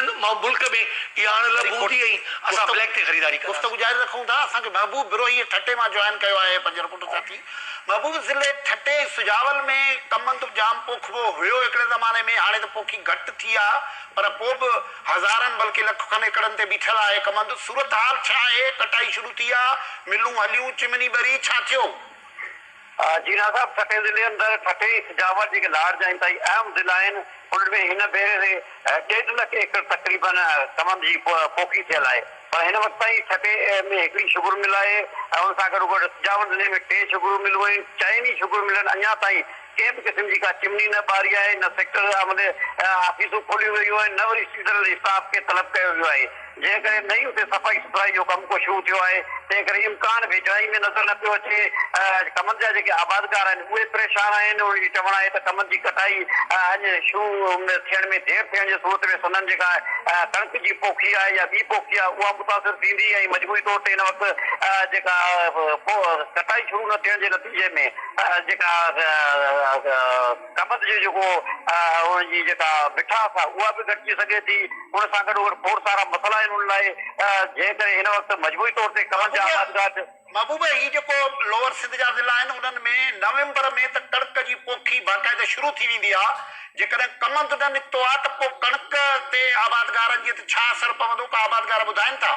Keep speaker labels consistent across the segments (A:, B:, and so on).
A: ملڪ ۾ اها اڻ لڀ هوندي ۽ اسان بليڪ تي خريداري ڪنداسين. گفتگو جاري رکون ٿا،
B: اسان کي محبوب بروهي ٺٽي مان جوائن ڪيو آهي پنج رپورٽر ساٿي محبوب ضلعي ٺٽي ۽ سجاول ۾ ڪمند به جام پوکبو هيو هڪڙي زماني ۾ هاڻي ته پوکي گهٽ ٿي آ پر پو به هزارن بلڪه لک کن ايڪڙن تي بيٺل آهي ڪمند صورتحال ڇا آهي ڪٽائي شروع ٿي آ ملون هليون چمني ٻري ڇا ٿيو.
C: جي نا صاحب، ٺٽي ضلعي اندر ٺٽي ۽ سجاول جيڪي لاڙ جا انتهائي اهم ضلعا آهن، انهن ۾ هن ڀيري ري ڏيڍ لک ايڪڙ تقريبن سمنڊ جي پوکي ٿيل آهي پر هن وقت تائين ٺٽي ۾ هڪڙي شگر مل آهي ۽ ان سان گڏو گڏ سجاول ضلعي ۾ ٽي شگرون ملون آهن، چئني شگر ملن اڃا تائين ڪنهن به قسم جي ڪا چمني نه ٻاري آهي، نه سيڪٽر آفيسون کوليون ويون آهن، نه وري سيزنل اسٽاف کي طلب ڪيو ويو آهي. جنهن ڪري نه ئي اتي صفائي سٿرائي جو ڪم ڪو شروع ٿيو آهي، تنهن ڪري امڪان ويجهڙائي ۾ نظر نه پيو اچي. ڪمند جا جيڪي آبادگار آهن، اهي پريشان آهن. انهن جو چوڻ آهي ته ڪمند جي ڪٽائي اڃ شروع ٿيڻ ۾ دير ٿيڻ جي صورت ۾ سندن جيڪا ڪڻڪ جي پوکي آهي يا ٻي پوکي آهي، اها متاثر ٿيندي ۽ مجموعي طور تي هن وقت جيڪا ڪٽائي شروع نه ٿيڻ جي نتيجي ۾ جيڪا قبض جو جيڪو ان جي جيڪا مٺاس آهي اها به گهٽجي سگهي ٿي. ان سان گڏو گڏ کوڙ سارا مسئلا آهن ان لاء جنهن ڪري هن وقت مجموعي طور تي ڪلن جا آبادگار. محبوبه هي جيڪو
B: لوئر سنڌ جا ضلعا آهن انهن ۾ نومبر ۾ ته ڪڻڪ جي پوکي باقاعده شروع ٿي ويندي آهي جيڪڏهن ڪمند نه نڪتو آهي ته پوء ڪڻڪ تي آبادگارن جي تي ڇا اثر پوندو ڪا آبادگار ٻڌائين ٿا.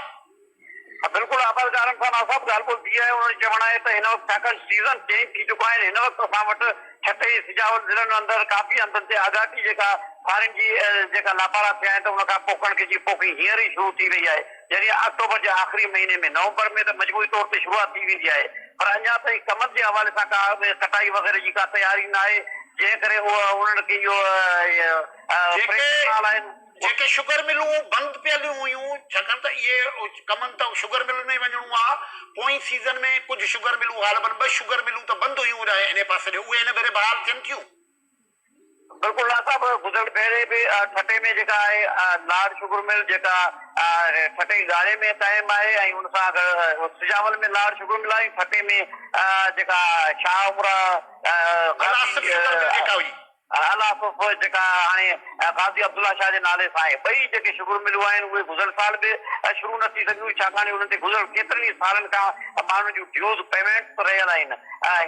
B: بلڪل
C: آبادگارن سان ناصاف ڳالهه ٻولهه ٿي آهي، انهن جو چوڻ آهي ته هن وقت ڇاڪاڻ سيزن چينج ٿي چڪا آهن، هن وقت اسان وٽ ٺٽي ۽ سجاول ضلعن اندر ڪافي هنڌن تي آڳاٽي جيڪا ڦارين جي جيڪا لاپارا ٿيا آهن ته ان کان پوء ڪڻڪ جي پوکي هينئر ئي شروع ٿي وئي آهي يعني آڪٽوبر جي آخري مهيني ۾ نومبر ۾ ته مجموعي طور تي شروعات ٿي ويندي آهي پر اڃا تائين ڪمند جي حوالي سان ڪا ڪٽائي وغيره جي ڪا تياري ناهي جنهن ڪري انهن کي اهو جيڪي
B: جيڪي شگر ملون بند پيل هيون ڇاڪاڻ ته اهي ڪمن ته شگر ملن ۾ ئي وڃڻو آ، پوئين سيزن ۾ ڪجهه شگر ملون غالبن ٻه شگر ملون ته بند هيون اڏاهي انهي پاسي ڏي اهي هن ڀيري بحال ٿين ٿيون.
C: بلڪل لاڙ صاحب گذريل ڀيري به ٺٽي ۾ جيڪا آهي لاڙ شگر مل جيڪا ٺٽي ڳاڙهي ۾ قائم آهي ۽ ان سان گڏ سجاول ۾ لاڙ شگر مل آهي ٺٽي ۾ جيڪا شاهه عمرا غازي شگر مل جيڪا هئي. اعليٰ صف جيڪا هاڻي قاضي عبدالله شاهه جي نالي سان آهي. ٻئي جيڪي شگر ملون آهن اهي گذريل سال به شروع نه ٿي سگهيون ڇاڪاڻ انهن تي گذريل ڪيترن ئي سالن کان ماڻهن جون ڊيوز پيمينٽس رهيل آهن.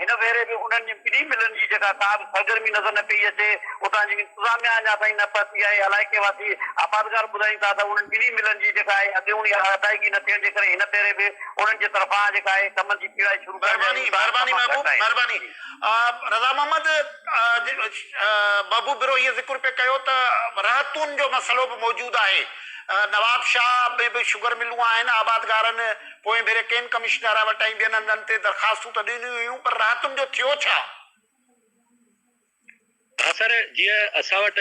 C: هن ڀيري به انهن ٻنهي ملن جي جيڪا ڪا به سرگرمي نظر نه پئي اچي. اتان جي انتظاميا اڃا تائين نه پهتي آهي. علائقي واسي آبادگار ٻڌائين ٿا ته انهن ٻنهي ملن جي جيڪا آهي اڳيوڻي ادائگي نه ٿيڻ جي ڪري هن ڀيري به انهن جي طرفان جيڪا آهي ڪمن جي پيڙائي شروع ڪرڻ جا امڪان تمام گهٽ
B: آهن. رضا محمد محبوب برو هيء ذڪر پئي ڪيو ته رهتون جو مسئلو به موجود آهي، نواب شاهه ۾ به شگر ملون آهن، آبادگارن پوئين ڀيري ڪين ڪمشنر وٽائين ٻين هنڌن تي درخواستون ته ڏنيون هيون پر رهتن جو ٿيو ڇا؟ اثر
D: جيئن اسان
B: وٽ.